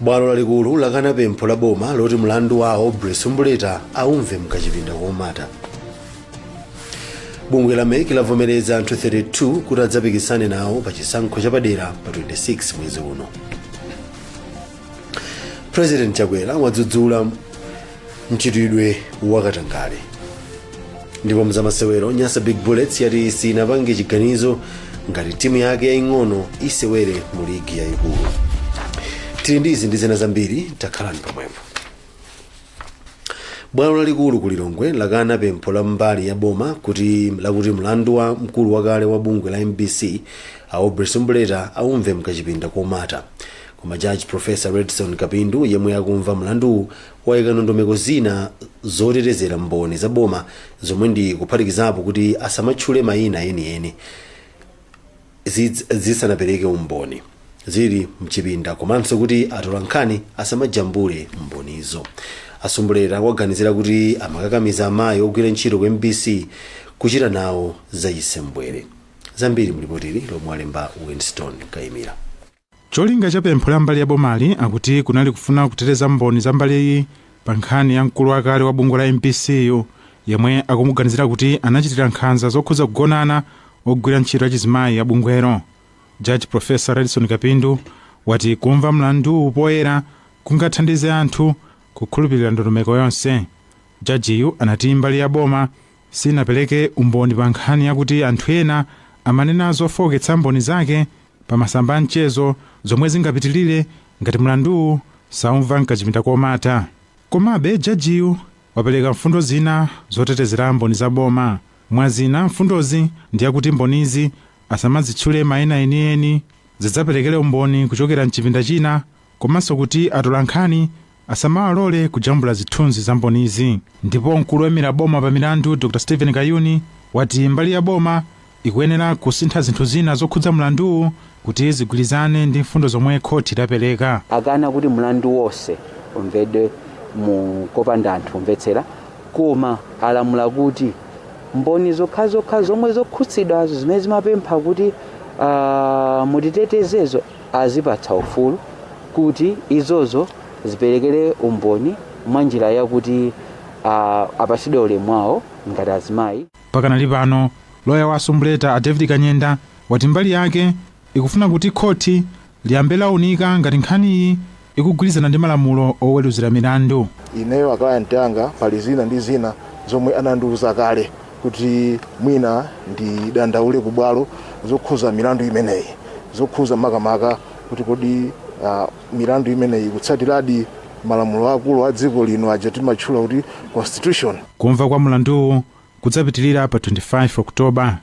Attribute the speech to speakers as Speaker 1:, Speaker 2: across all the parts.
Speaker 1: bwalo lalikulu lakana pempho la boma loti mlandu wa aubrey sumbuleta aumve mkachipinda komata bungwe la mec lavomereza anthu 32 kuti adzapikisane nawo pa chisankho chapadera pa 26 mwezi uno president chakwera wadzudzula mchitidwe wakatangale ndipo mzamasewero nyasa big bullets yati sinapange chiganizo ngati timu yake yaying'ono isewere mu ligi yayikulu tili ndi izi ndi zina zambiri takhalani pomwepo bwalo lalikulu ku lilongwe lakana pempho la mbali ya boma lakuti mlandu wa mkulu wakale wa bungwe la mbc aubrey sumbuleta aumve mkachipinda komata Koma Judge Prof. Redson Kapindu yemwe akumva mlanduwu waika ndondomeko zina zotetezera mboni za boma zomwe ndi kuphatikizapo kuti asamatchule maina enieni zidzapereke umboni zili mchipinda komanso kuti atolankhani asamajambule mbonizo a sumbuleta akuwaganizira kuti amakakamiza amayi ogwira ntchito ku mbc kuchita nawo zachisembwere zambiri mlipotili lomwe alemba winston kaimira
Speaker 2: Cholinga cha pempho la mbali ya bomali akuti kunali kufuna kuteteza mboni za mbaliyi pa nkhani ya mkulu wakale wa bungwe la mbc yu yemwe akumuganizira kuti anachitira nkhanza zokhudza kugonana ogwira ntchito achizimayi a bungwelo. Judge Prof. Redson Kapindu wati kumva mlanduwu poyera kungathandize anthu kukhulupilira ndondomeko yonse. Jajiyu anati mbali ya boma sinapereke umboni pa nkhani yakuti anthu ena amanena zofooketsa mboni zake pa masamba a mchezo zomwe zingapitilire ngati mlanduwu saumva m'kachipinda komata. Komabe, jajiyu wapereka mfundo zina zotetezera mboni za boma. Mwa zina, mfundozi ndi yakuti mbonizi asamadzitchule maina enieni, zidzaperekere umboni kuchokera m'chipinda china komanso kuti atolankhani asamawalole kujambula zithunzi za mbonizi. Ndipo mkulu woimira boma pa milandu Dr Steven Kayuni wati mbali ya boma ikuyenera kusintha zinthu zina zokhudza mlanduwu kuti zigwirizane ndi mfundo zomwe khoti lapereka. akana kuti
Speaker 3: mlandu wonse umvedwe mu kopanda anthu omvetsera koma alamula kuti mboni zokhazokha zomwe zokhudzidwazo zimene zimapempha kuti ah, mutitetezezo azipatsa ufulu kuti izozo ziperekere umboni mwa njira yakuti uh, apasidwe ulemu wawo ngati azimayi pakanali
Speaker 2: pano loya wa a sumbuleta a david kanyenda wati mbali yake ikufuna kuti khoti liyambe launika ngati nkhaniyi ikugwirizana ndi malamulo oweruzira milandu. Ineyo a client
Speaker 4: anga pali zina ndi zina zomwe anandiuza kale kuti mwina ndidandaule ku bwalo zokhuza milandu imeneyi, zokhuza makamaka kuti kodi ah, milandu imeneyi ikutsatiradi malamulo akulu a dziko lino aja timatchula kuti constitution. Kumva kwa mlanduwu
Speaker 2: kudzapitirira pa 25 October.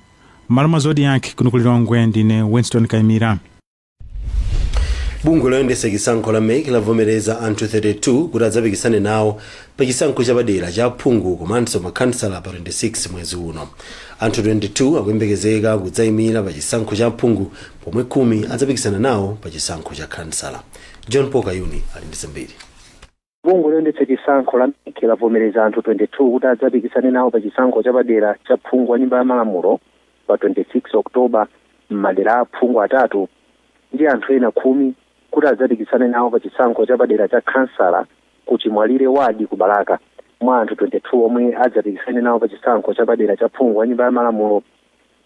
Speaker 2: M'malo mwa Zodiak kuno ku Lilongwe ndine Winston Kaimira.
Speaker 1: bungwe loyendetsa chisankho la mec lavomereza anthu 32 kuti adzapikisane nawo pa chisankho chapadera cha phungu komanso makhansala pa 26 mwezi uno anthu 22 akuyembekezeka kudzayimira pa chisankho cha phungu pomwe khumi adzapikisana nawo pa chisankho cha khansala john paul kayuni ali ndi zambiri
Speaker 5: Bungwe loyendetsa chisankho la mec lavomereza anthu 22 kuti adzapikisane nawo pa chisankho chapadera cha phungu wa Nyumba ya Malamulo pa 26 October m'madera a phungu atatu ndi anthu ena khumi kuti adzapikisane nawo pa chisankho chapadera cha khansala ku Chimwalire ward ku Balaka. Mwa anthu 22 omwe adzapikisane nawo pa chisankho chapadera cha phungu wa Nyumba ya Malamulo,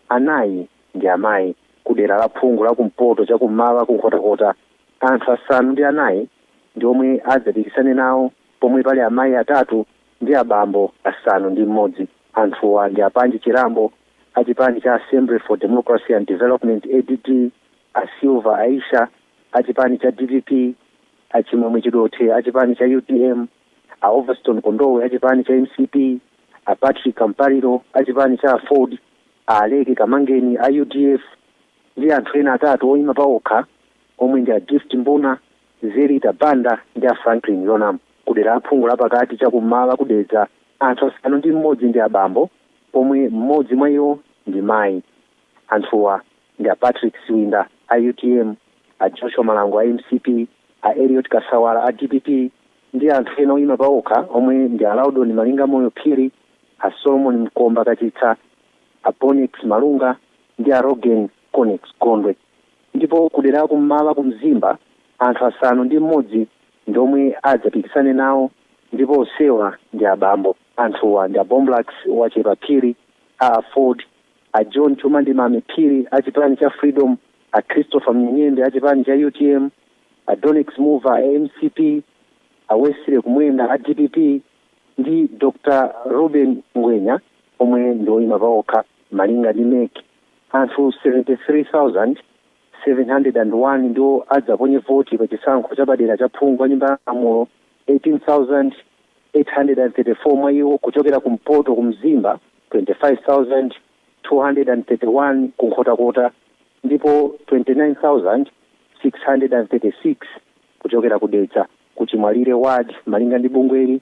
Speaker 5: anayi ndi amayi. Kudera la phungu la kumpoto chakummawa ku Nkhotakota, anthu asanu ndi anayi ndi omwe adzapikisane nawo pomwe pali amayi atatu ndi abambo asanu ndi m'modzi. Anthuwa ndi a Panji Chirambo a chipani cha Assembly for Democracy and Development, ADD, a Silver Aisha a chipani cha dpp, a Chimwemwe Chidothe a chipani cha utm, a Overstone Kondowe a chipani cha mcp, a Patrick Kampaliro a chipani cha aford, a Aleke Kamangeni a udf ndi anthu ena atatu oyima pawokha. omwe ndi a Gift Mbuna, Zelita Banda ndi a Franklin Yonamu. Ku dera la phungu lapakati cha ku m'mawa ku Dedza, anthu asanu ndi m'modzi ndi abambo pomwe m'modzi mwa iwo ndi mayi. Anthuwa ndi a Patrick Siwinda a utm, a Joshua Malango a mcp, a Eliot Kasawala a dpp ndi anthu ena oyima pawokha omwe ndi a Laudon Malingamoyo Phiri, a Solomon Mkomba Kachitsa, a Bonnex Malunga ndi a Roggen Connex Gondwe. ndipo kudera la kummawa ku Mzimba anthu asanu ndi mmodzi ndi omwe adzapikisane nawo ndipo onsewa ndi abambo. Anthuwa ndi a Bomlax Wachepa Phiri, a aford, a John Chuma ndi Mame Phiri a chipani cha Freedom, a Christopher Mnyenyembe a chipani cha utm, a Donnex Muva a mcp, a Wesley Kumwenda a dpp ndi Dr Reuben Ngwenya omwe ndi oyima paokha malinga ndi mec. Anthu 73,701 ndiwo adzaponye voti pa chisankho chapadera cha phungu wa Nyumba ya Malamulo, 18,834 mwa iwo kuchokera kumpoto ku Mzimba, 25,231 ku Nkhotakota ndipo 29,636 kuchokera ku Dedza ku Chimwalira Ward. Malinga ndi bungweli,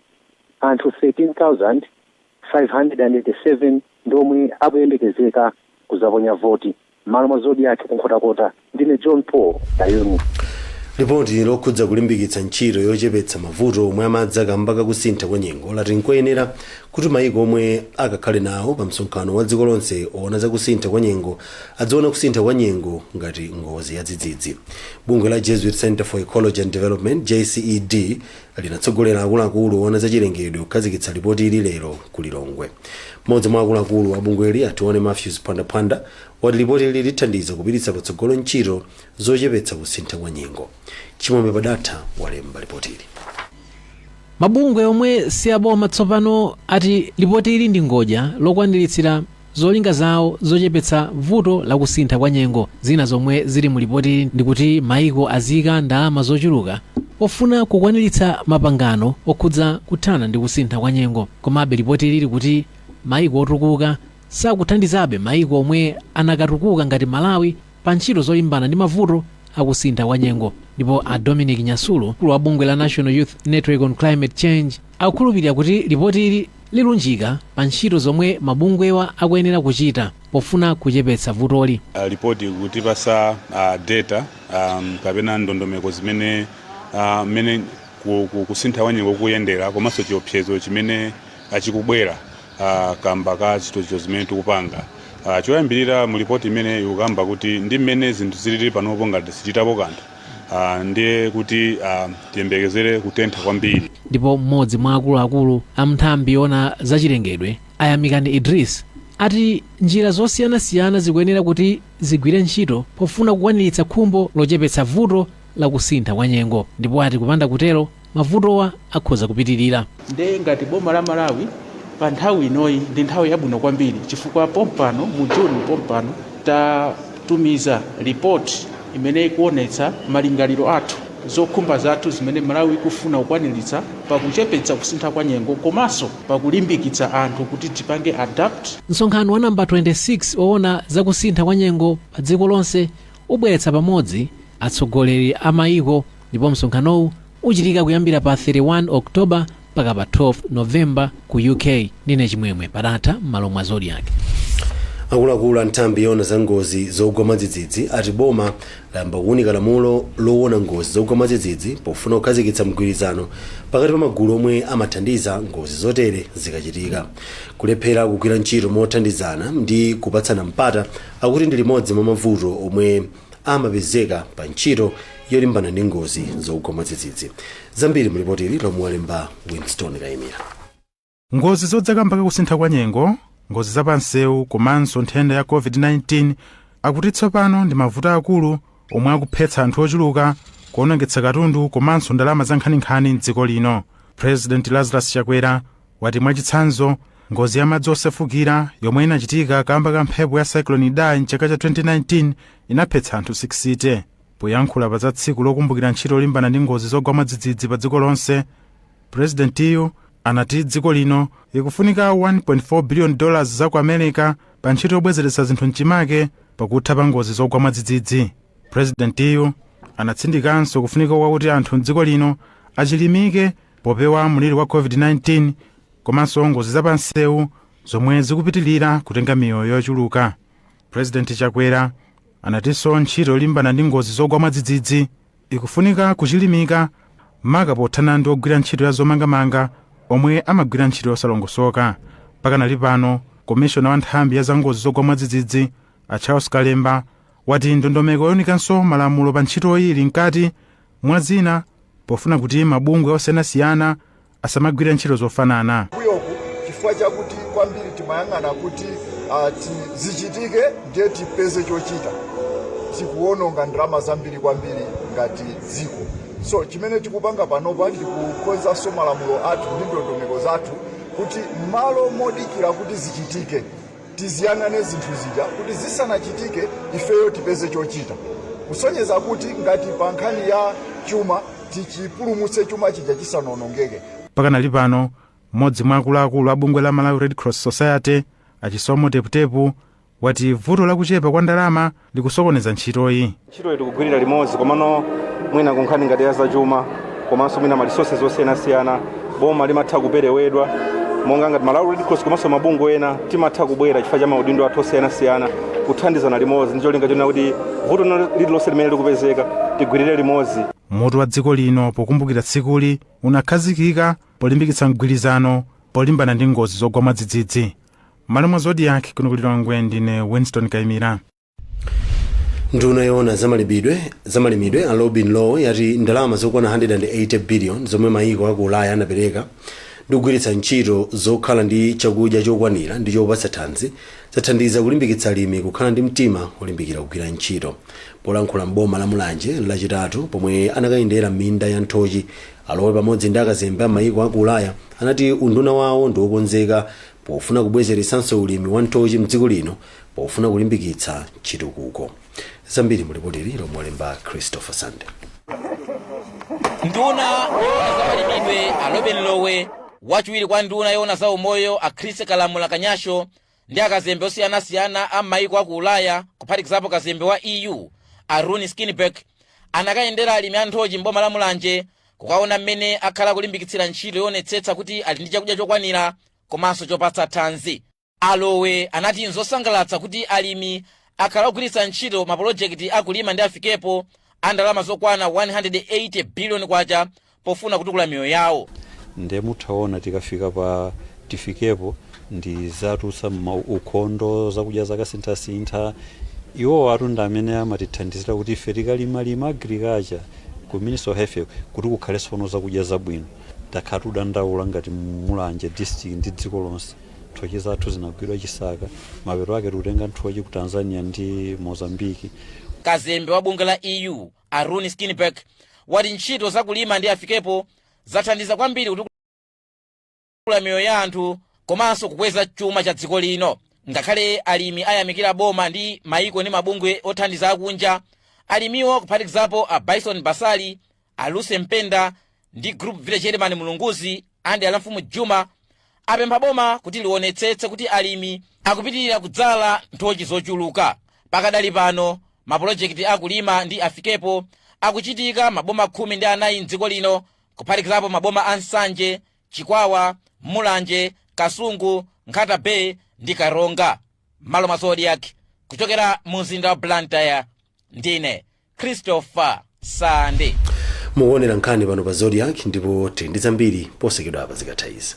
Speaker 5: anthu 13,000. 587 ndi omwe akuyembekezeka kuzaponya voti. Mmalo mwa Zodiak ku Nkhotakota, ndine John Paul Kayuni. Lipoti
Speaker 1: lokhudza kulimbikitsa ntchito yochepetsa mavuto omwe amadza kamba kakusintha kwa nyengo lati nkoyenera kuti mayiko omwe akakhale nawo pa msonkhano wa dziko lonse oona za kusintha kwa nyengo adziona kusintha kwa nyengo ngati ngozi yadzidzidzi. Bungwe la Jesuit Center for Ecology and Development JCED linatsogolera akuluakulu oona za chilengedwe kukhazikitsa lipoti ili lero ku lilongwe mmodzi mwa akuluakulu a bungweli a tione matthews phwandaphwanda wati lipoti ili lithandiza kupititsa patsogolo ntchito zochepetsa kusintha kwa nyengo chimwemwe padatha walemba
Speaker 6: lipotili mabungwe omwe si aboma tsopano ati lipoti ili ndi ngodya lokwaniritsira Zolinga zawo zochepetsa vuto la kusintha kwa nyengo zina zomwe zili mu lipotili ndi kuti maiko aziika ndalama zochuluka pofuna kukwaniritsa mapangano okhudza kuthana ndi kusintha kwa nyengo. Komabe lipotili likuti maiko otukuka sakuthandizabe maiko omwe akanatukuka ngati Malawi. pa ntchito zolimbana ndi mavuto a kusintha kwa nyengo. Ndipo a Dominic Nyasulu, mkulu wa bungwe la National Youth Network on Climate Change, akukhulupirira kuti lipotili lilunjika pa ntchito zomwe mabungwewa akuyenera kuchita pofuna kuchepetsa vutoli. Uh, lipoti
Speaker 7: kutipasa uh, data um, kapena ndondomeko zimene uh, mmene ku- ku- kusintha kwa nyengo kuyendera komanso chiopsezo chimene a chikubwera a kamba ka zochitochita zimene tikupanga a choyambirira mu lipoti imene ikukamba kuti ndi mmene zinthu zilili panopo ngati sichitapo kanthu a ndiye kuti a tiyembekezere kutentha kwambiri ndipo mmodzi mwa
Speaker 6: akuluakulu a mnthambi yona zachilengedwe a yamikani idris ati njira zosiyanasiyana zikuyenera kuti zigwire ntchito pofuna kukwaniritsa khumbo lochepetsa vuto la kusintha kwa nyengo ndipo ati kupanda kutero mavutowa akhoza kupitirira. Nde ngati
Speaker 8: boma la Malawi pa nthawi inoyi ndi nthawi yabwino kwambiri chifukwa pompano mu June pompano tatumiza report imene ikuonetsa malingaliro athu, zokhumba zathu zimene Malawi ikufuna kukwaniritsa pa kuchepetsa kusintha kwa nyengo komanso pa kulimbikitsa anthu kuti tizipange adapt. Msonkhano wa number
Speaker 6: 26 owona za kusintha kwa nyengo pa dziko lonse ubweretsa pamodzi atsogoleri a mayiko, ndipo msonkhanowu uchitika kuyambira pa 31 October mpaka pa 12 November ku UK. Ndine Chimwemwe Padatha m'malo mwa Zodiak. akuluakulu
Speaker 1: a nthambi yoona za ngozi zogwa mwadzidzidzi ati boma layamba kuunika lamulo loona ngozi zogwa mwadzidzidzi pofuna kukhazikitsa mgwirizano pakati pa magulu omwe amathandiza ngozi zotere zikachitika kulephera kugwira ntchito mothandizana ndi kupatsana mpata akuti ndi limodzi mwa mavuto omwe amapezeka pa ntchito yolimbana ndi ngozi zogwa mwadzidzidzi zambiri mu lipoti ili lomwe walemba winston kaimira ngozi
Speaker 2: zodza kamba ka kusintha kwa nyengo ngozi za pansewu komanso nthenda ya covid-19 akuti tsopano ndi mavuto aakulu omwe akuphetsa anthu ochuluka kuonongetsa katundu komanso ndalama zankhaninkhani mdziko lino president lazarus chakwera wati mwachitsanzo, ngozi ya madzi osefukira yomwe inachitika kamba ka mphepo ya Cyclone Idai mchaka cha 2019 inaphetsa anthu 60. Poyankhula pa za tsiku lokumbukira ntchito yolimbana ndi ngozi zogwa mwadzidzidzi pa dziko lonse, Presidentiyu anati dziko lino likufunika 1.4 billion dollars za ku America pa ntchito yobwezeretsa zinthu mchimake pakutha pa ngozi zogwa mwadzidzidzi. Presidentiyu anatsindikanso kufunika kwakuti anthu mdziko lino achilimike Popewa mliri wa COVID-19 komanso ngozi za pansewu zomwe zikupitilira kutenga miyoyo yochuluka, President Chakwera anatinso ntchito yolimbana ndi ngozi zogwa mwadzidzidzi ikufunika kuchilimika maka pothana ndi ogwira ntchito ya zomangamanga omwe amagwira ntchito yosalongosoka. Pakanali pano, komishona wa nthambi ya za ngozi zogwa mwadzidzidzi a Charles Kalemba wati ndondomeko younikanso malamulo pa ntchitoyi ili mkati mwa zina pofuna kuti mabungwe osiyanasiyana asamagwira ntchito zofanana. mbuyoku
Speaker 9: chifukwa chakuti kwambiri timayang'ana kuti ah, ti- zichitike ndiye tipeze chochita tikuwononga ndalama zambiri kwambiri ngati dziko so chimene tikupanga panopa ndi kukonzanso malamulo athu ndi ndondomeko zathu kuti malo modikira kuti zichitike Tiziyang'ane zinthu zija kuti zisanachitike ifeyo tipeze chochita kusonyeza kuti ngati pa nkhani ya chuma tichipulumutse chuma chija chisanaonongeke. Pakanali pano,
Speaker 2: m'modzi mwa akuluakulu a bungwe la Malawi Red Cross Society, a Chisomo Teputepu, wati vuto la kuchepa kwa ndalama likusokoneza ntchitoyi. Ntchitoyi tikugwirira
Speaker 10: limodzi komano mwina kunkhani ngati ya zachuma komanso mwina ma resources osiyanasiyana boma limatha kuperewedwa monga ngati Malawi Red Cross komanso mabungwe ena timatha kubwera chifukwa cha maudindo athu osiyanasiyana kuthandizana limodzi ndi cholinga chonena kuti vuto lino- lililonse limene likupezeka tigwirire limodzi. Mutu wa dziko
Speaker 2: lino pokumbukira tsikuli unakhazikika polimbikitsa mgwirizano polimbana ndi ngozi zogwa mwadzidzidzi. mmalo mwa zodiak kuno ku lilongwe ndine winston
Speaker 1: kaimira nduna yoona zamalimidwe a lobin lowe yati ndalama zokwana 180 billion zomwe mayiko aku ulaya anapereka ndi kugwiritsa ntchito zokhala ndi chakudya chokwanira ndi chopatsa thanzi zathandiza kulimbikitsa alimi kukhala ndi mtima olimbikira kugwira ntchito polankhula mboma la mulanje lachitatu pomwe anakayendera minda ya nthochi a lowe pamodzi ndi akazembe a mayiko aku ulaya anati unduna wawo ndiwokonzeka pofuna kubwezeretsanso ulimi wa nthochi mdziko lino pofuna kulimbikitsa chitukuko zambiri mulipotili lomwe walemba christopher sande
Speaker 11: nduna yoona za malimidwe a lobin lowe wachiwiri kwa nduna yoona za umoyo a chrissie kalamula kanyasho ndi akazembe osiyanasiyana a m'mayiko a ku ulaya kuphatikizapo kazembe wa eu a rune skinnebach anakayendera alimi a nthochi m'boma la mulanje kukaona mmene akhala akulimbikitsira ntchito yoonetsetsa kuti ali ndi chakudya chokwanira komanso chopatsa thanzi a lowe anati nzosangalatsa kuti alimi akhala akugwiritsa ntchito mapolojekiti a kulima ndi afikepo a ndalama zokwana 180 biliyoni kwacha pofuna kutukula miyoyo yawo nde
Speaker 12: muthaona tikafika pa afikepo ndi za ukhondo zakudya zakasinthasintha iwo awa ndi amene amatithandizira kuti ife tikalimalima agriculture ku ministry of health kuti kukhale sono zakudya zabwino takhala tikudandaula ngati mulanje district ndi dziko lonse nthochi zathu zinagwidwa chisaka mapeto ake tikutenga nthochi ku tanzania ndi mozambiki kazembe wa
Speaker 11: bungwe la eu a rune skinnebach wati ntchito za kulima ndi afikepo zathandiza kwambiri kutukula miyoyo ya anthu komanso kukweza chuma cha dziko lino ngakhale alimi ayamikira boma ndi maiko ndi mabungwe othandiza akunja alimiwo kuphatikizapo a bison basali a lucy mpenda ndi group village headman mulunguzi under a mfumu juma apempha boma kuti lionetsetse kuti alimi akupitirira kudzala nthochi zochuluka pakadali pano mapulojekiti a kulima ndi afikepo akuchitika maboma khumi ndi anayi mdziko lino kuphatikizapo maboma a nsanje chikwawa mulanje kasungu nkhata bay ndi karonga mmalo mwa zodiak kuchokera mu mzinda wa blantyre ndine christopher sande
Speaker 1: mukuonera nkhani pano pa zodiak ndipo tili ndi zambiri posachedwapa zikatha izi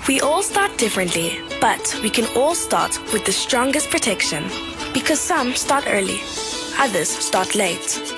Speaker 13: We all start differently, but we can all start with the strongest protection. Because some start early, others start late.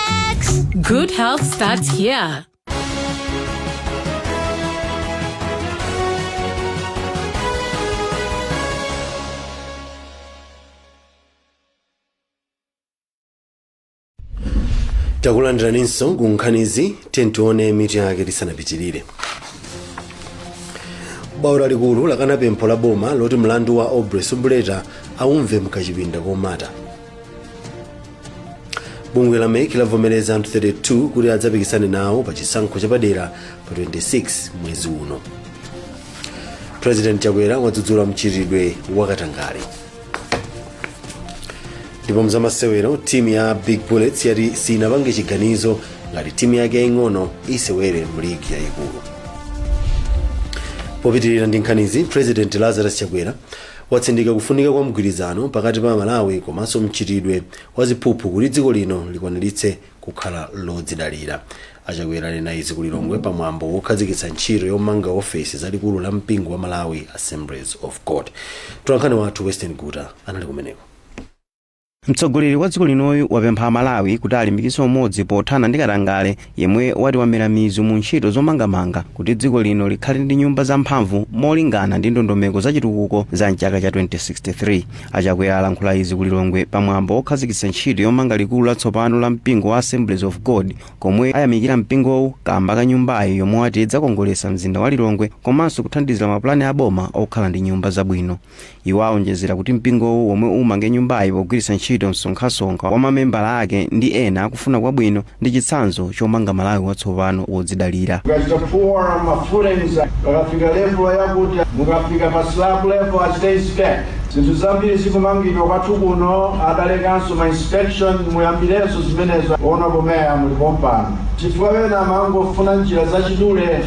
Speaker 14: Good health starts
Speaker 1: here. takulandiraninso ku nkhanizi tione mitu yake tisanapitirire bwalo lalikulu lakana pempho la boma loti mlandu wa aubrey Sumbuleta aumve m'kachipinda komata bungwe la mec lavomereza anthu 32 kuti adzapikisane nawo pa chisankho chapadera pa 26 mwezi uno president chakwera wadzudzula mchitidwe wakatangale ndipo m'zamasewero timu ya big bullets yati sinapange chiganizo ngati timu yake yaing'ono isewere mu ligi yayikulu popitirira ndi nkhanizi president lazarus chakwera watsindika kufunika kwa mgwirizano pakati pa Amalawi komanso mchitidwe wa ziphuphu kuti dziko lino likwaniritse kukhala lodzidalira. A Chakwera anena izi ku Lilongwe pa mwambo wokhazikitsa ntchito yomanga ofesi za likulu la mpingo wa Malawi Assemblies of God. Mtolankhani wathu Western Guta anali kumeneko.
Speaker 15: Mtsogoleri wa dziko linoyu wapempha Amalawi kuti alimbikitse umodzi pothana ndi katangale yemwe wati wamera mizu mu ntchito zomangamanga kuti dziko lino likhale ndi nyumba zamphamvu molingana ndi ndondomeko za chitukuko za mchaka cha 2063. A Chakwera alankhula izi ku Lilongwe pa mwambo wokhazikitsa ntchito yomanga likulu latsopano la mpingo wa Assemblies of God komwe ayamikira mpingowu kamba ka nyumbayi yomwe wati idzakongoletsa mzinda wa Lilongwe komanso kuthandizira mapulani a boma okhala ndi nyumba zabwino. Iwo aonjezera kuti mpingowu womwe umange nyumbayi pogwiritsa ntchito msonkhasonkha wa mamembala ake ndi ena akufuna kwabwino ndi chitsanzo chomanga Malawi watsopano wodzidalira. Mukachita pour ma
Speaker 16: footings mukafika level yakuti mukafika pa slab level achita inspect zinthu zambiri zikumangidwa kwathu kuno adalekanso ma inspection muyambirenso zimenezo honourable mayor muli pompano chifukwa ena amangofuna njira zachidule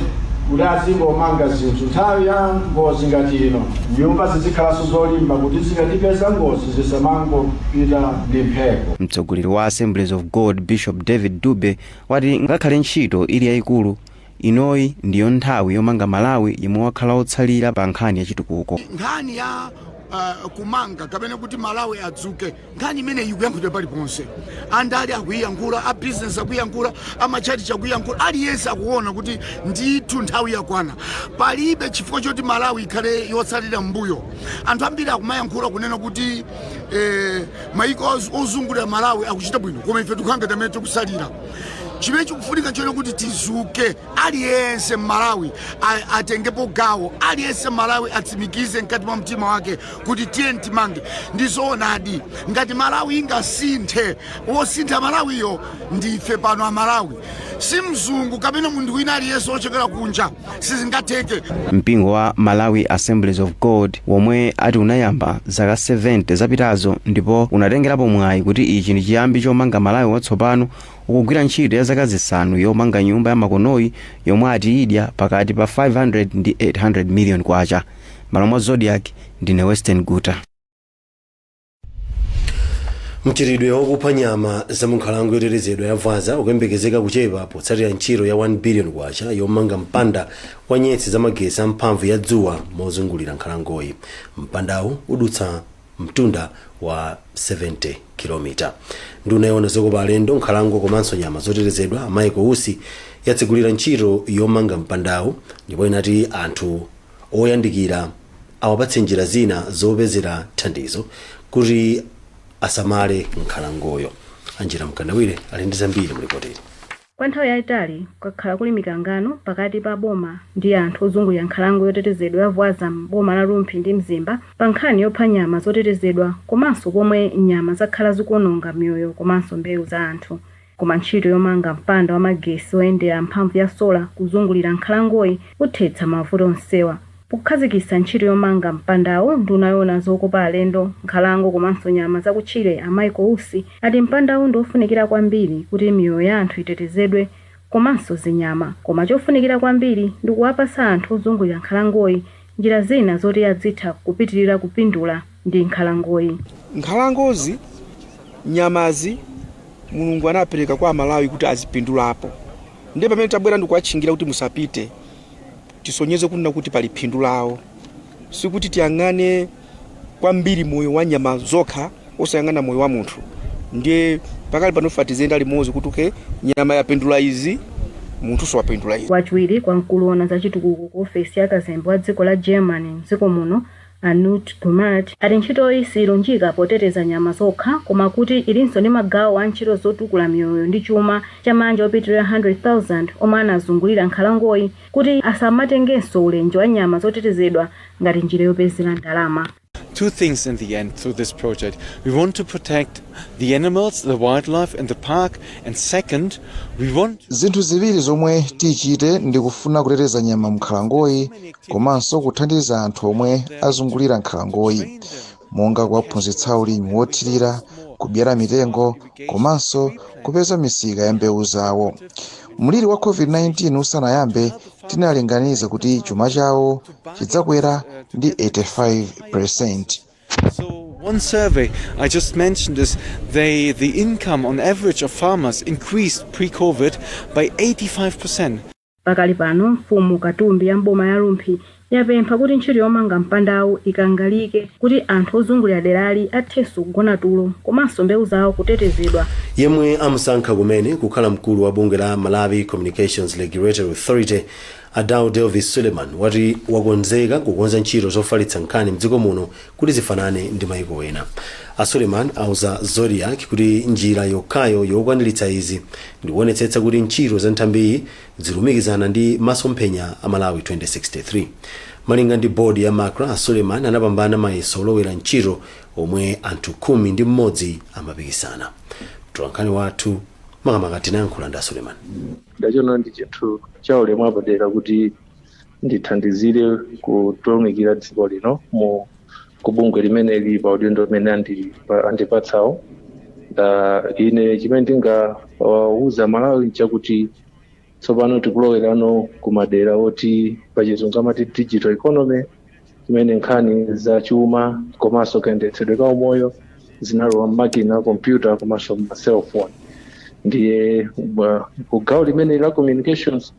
Speaker 16: kuti azingomanga zinthu Nthawi ya ngozi ngati ino, nyumba zizikhalanso zolimba kuti zikatipeza ngozi zisamangopita ndi mphepo. Mtsogoleri wa Assemblies
Speaker 15: of God Bishop David Dube wati ngakhale ntchito ili yaikulu, inoyi ndiyo nthawi yomanga Malawi yemwe wakhala otsalira pa nkhani ya chitukuko. Nkhani ya
Speaker 17: kumanga kapena kuti Malawi adzuke nkhani imeneyi ikuyankhulidwa paliponse andale akuyiyankhula a business akuyiyankhula amatchalitchi akuyiyankhula aliyense akuona kuti ndithu nthawi yakwana palibe chifukwa choti malawi ikhale yotsalira m'mbuyo anthu ambiri akumayankhula kunena kuti eh, mayiko oz- ozungulira malawi akuchita bwino koma ife tikukhala ngati amene tikusalira chimene chikufunika n'chonena kuti tizuke aliyense mmalawi a- atengepo gawo aliyense mmalawi atsimikize mkati mwa mtima wake kuti tiyeni timange ndi zoonadi ngati malawi ingasinthe wosintha malawiyo ndife pano amalawi si mzungu kapena munthu wina aliyense wochokera kunja sizingatheke mpingo wa
Speaker 15: malawi assemblies of god womwe ati unayamba zaka 70 zapitazo ndipo unatengerapo mwayi kuti ichi ndi chiyambi chomanga malawi watsopano ukugwira ntchito ya zaka zisanu yomanga nyumba ya makonoyi yomwe ati idya pakati pa 500 ndi 800 million kwacha malo mwa zodiak ndine western
Speaker 1: guta mchitidwe wokupha nyama za munkhalango yotetezedwa ya vwaza ukuyembekezeka kuchepa potsatira ntchito ya 1 billion kwacha yomanga mpanda wa nyetsi za magesi a mphamvu ya dzuwa mozungulira nkhalangoyi mpandawu udutsa mtunda wa 70 kilomita nduna yowona zokopa alendo nkhalango komanso nyama zotetezedwa michael usi yatsegulira ntchito yomanga mpandawu ndipo inati anthu oyandikira awapatse njira zina zopezera thandizo kuti asamale nkhalangoyo. Angela Mkandawire ali ndi zambiri mu lipotili. Kwa nthawi
Speaker 18: yaitali kwakhala kuli mikangano pakati pa boma ndi anthu ozungulira nkhalango yotetezedwa ya Vwaza m'boma la Rumphi ndi Mzimba pa nkhani yopha nyama zotetezedwa komanso pomwe nyama zakhala zikuononga miyoyo komanso mbewu za anthu. Koma ntchito yomanga mpanda wa magesi oyendera mphamvu ya sola kuzungulira nkhalangoyi uthetsa mavuto onsewa. Pokhazikitsa ntchito yomanga mpandawu, nduna yoona zokopa alendo, nkhalango komanso nyama zakutchire a Michael Usi ati mpandawu ndi ofunikira kwambiri kuti miyoyo ya anthu itetezedwe komanso zinyama. Koma chofunikira kwambiri ndi kuwapatsa anthu ozungulira nkhalangoyi njira zina zoti adzitha kupitilira kupindula. ndi
Speaker 19: nkhalangoyi. Nkhalangozi, nyamazi, Mulungu anapereka kwa Amalawi kuti azipindulapo. Ndiye pamene tabwera ndikuwatchingira kuti musapite, tisonyeze kunena kuti pali phindu lawo. Sikuti tiyang'ane kwambiri moyo wa nyama zokha osayang'ana moyo wa munthu. Ndiye pakali pano tifuna tiziyenda limodzi kuti okay, nyama yapindula izi, munthunso wapindula izi. Wachiwiri kwa mkulu owona
Speaker 18: za chitukuko ku ofesi ya kazembe wa dziko la Germany m'dziko muno, A Knut Gummert ati ntchitoyi siyilunjika poteteza nyama zokha koma kuti ilinso ndi magawo a ntchito zotukula miyoyo ndi chuma cha maanja opitilira 100,000 omwe anazungulira nkhalangoyi kuti asamatengenso ulenje wa nyama zotetezedwa ngati njira yopezera ndalama. two things
Speaker 20: in the end through this project. We want to protect the animals, the wildlife in the park, and second, we want Zinthu ziwiri zomwe
Speaker 4: tichite ndi kufuna kuteteza nyama mnkhalangoyi komanso kuthandiza anthu omwe azungulira nkhalangoyi monga kuwaphunzitsa ulimi wothirira kubyala mitengo komanso kupeza misika ya mbewu zawo mliri wa covid-19 usanayambe tinalinganiza kuti chuma chawo chidzakwera ndi 85 percent
Speaker 20: So one survey I just mentioned is the income on average of farmers increased pre-COVID by 85%. Pakali pano,
Speaker 18: mfumu Katumbi ya m'boma ya Rumphi yapempha kuti ntchito yomanga mpandawu ikangalike kuti anthu ozungulira derali athenso kugona tulo komanso mbewu zawo kutetezedwa. Yemwe amusankha
Speaker 1: kumene kukhala mkulu wa bungwe la Malawi Communications Regulatory Authority, a Daud Elvis Suleman, wati wakonzeka kukonza ntchito zofalitsa nkhani mdziko muno kuti zifanane ndi maiko ena. A Suleman auza Zodiak kuti njira yokhayo yokwaniritsa izi ndikuonetsetsa kuti ntchito za nthambiyi zilumikizana ndi masomphenya a Malawi 2063. Malinga ndi board ya Macra, a Suleman anapambana mayeso olowera ntchito omwe anthu khumi ndi mmodzi amapikisana. Mtolankhani wathu makamaka anayankhula ndi a Suleman. Ndachiona ndi
Speaker 21: chinthu chaulemu apadera kuti ndithandizire kutumikira dziko lino mu kubungwe limeneli pa udindo umene andi- pa- andipatsawo Ah, ine chimene ndingawuza malawi nchakuti tsopano tikulowera no ku madera oti pachizungu amati digital economy imene nkhani za chuma komanso kayendetsedwe ka umoyo zinalowa mmakina a kompyuta komanso ma cellphone ndiye ku gawo limeneli la communications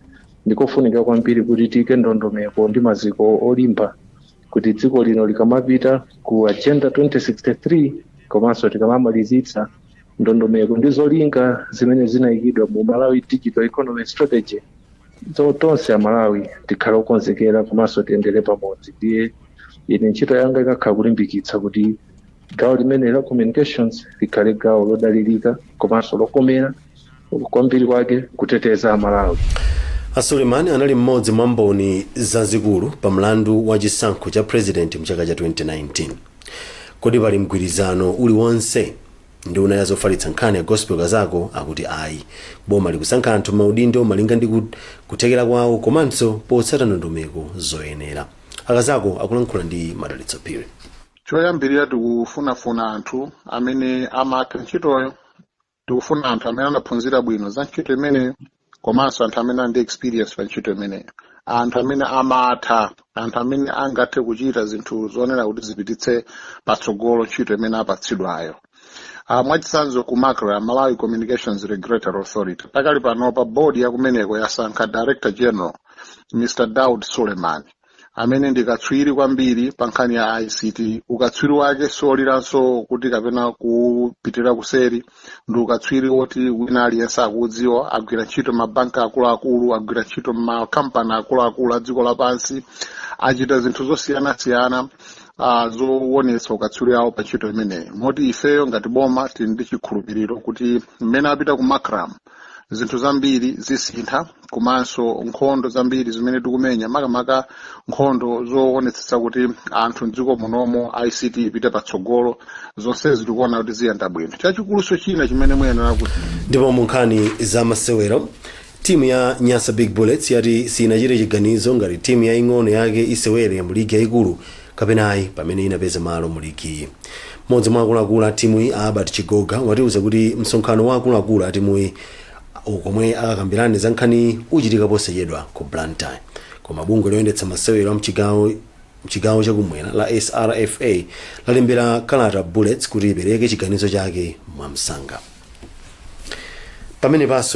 Speaker 21: Ndikofunika kwambiri kuti tiike ndondomeko ndi maziko olimba kuti dziko lino likamapita ku Agenda 2063 komanso tikamamalizitsa ndondomeko ndi zolinga zimene zinaikidwa mu Malawi Digital Economy Strategy tonse Amalawi tikhale okonzekera komanso tiyendere pamodzi. Ndiye ine ntchito yanga ikakhala kulimbikitsa kuti gawo limeneli la communications likhale gawo lodalirika komanso lokomera kwambiri kwake kuteteza amalawi a
Speaker 1: suleiman anali mmodzi mwa mboni zazikulu pa mlandu wa chisankho cha president mchaka cha 2019 kodi pali mgwirizano uliwonse nduna ya zofalitsa nkhani a gospel kazako akuti ayi boma likusankha anthu maudindo malinga ndi ku- kuthekera kwawo komanso potsata ndondomeko zoyenera akazako akulankhula ndi madalitso phiri choyambirira
Speaker 22: tikufunafuna anthu amene amatha ntchitoyo tikufuna anthu amene anaphunzira bwino za ntchito imeneyo komanso anthu amene ali ndi experience pa ntchito imeneyo anthu amene amatha anthu amene angathe kuchita zinthu zoonera kuti zipititse patsogolo ntchito imene apatsidwayo Uh, mwachitsanzo ku macra malawi communications regulatory authority pakali panopa bodi yakumeneko yasankha director general mr daud suleiman amene ndi katswiri kwambiri pa nkhani ya ict ukatswiri wake sioliranso kuti kapena kupitira kuseri ndi ukatswiri woti wina aliyense akuudziwa agwira ntchito mabanki akuluakulu agwira ntchito makampani akuluakulu a dziko lapansi achita zinthu zosiyanasiyana uh, zowonetsa ukatswiri awo pa ntchito imeneyi moti ifeyo ngati boma tili ndi chikhulupiriro kuti mmene apita ku macra zinthu zambiri zisintha komanso nkhondo zambiri zimene tikumenya makamaka nkhondo zoonetsetsa kuti anthu mdziko munomo ict ipite patsogolo zonsezi tikuona kuti ziyenda bwino chachikulunso china chimene muyenera kuti ndipo mu
Speaker 1: nkhani za masewero timu ya nyasa big bullets yati sinachite chiganizo ngati timu yaing'ono yake isewere mu ligi yayikulu kapena ayi pamene inapeza malo mu ligiyi. Mmodzi mwa akuluakulu a timuyi a Albert Chigoga watiuza kuti msonkhano wa akuluakulu a timuyi komwe akakambirane za nkhaniyi uchitika posachedwa ku Blantyre. Koma bungwe loyendetsa masewero a mchigawo chakumwera la SRFA lalembera kalata Bullets kuti ipereke chiganizo chake mwamsanga. Pamenepanso ndi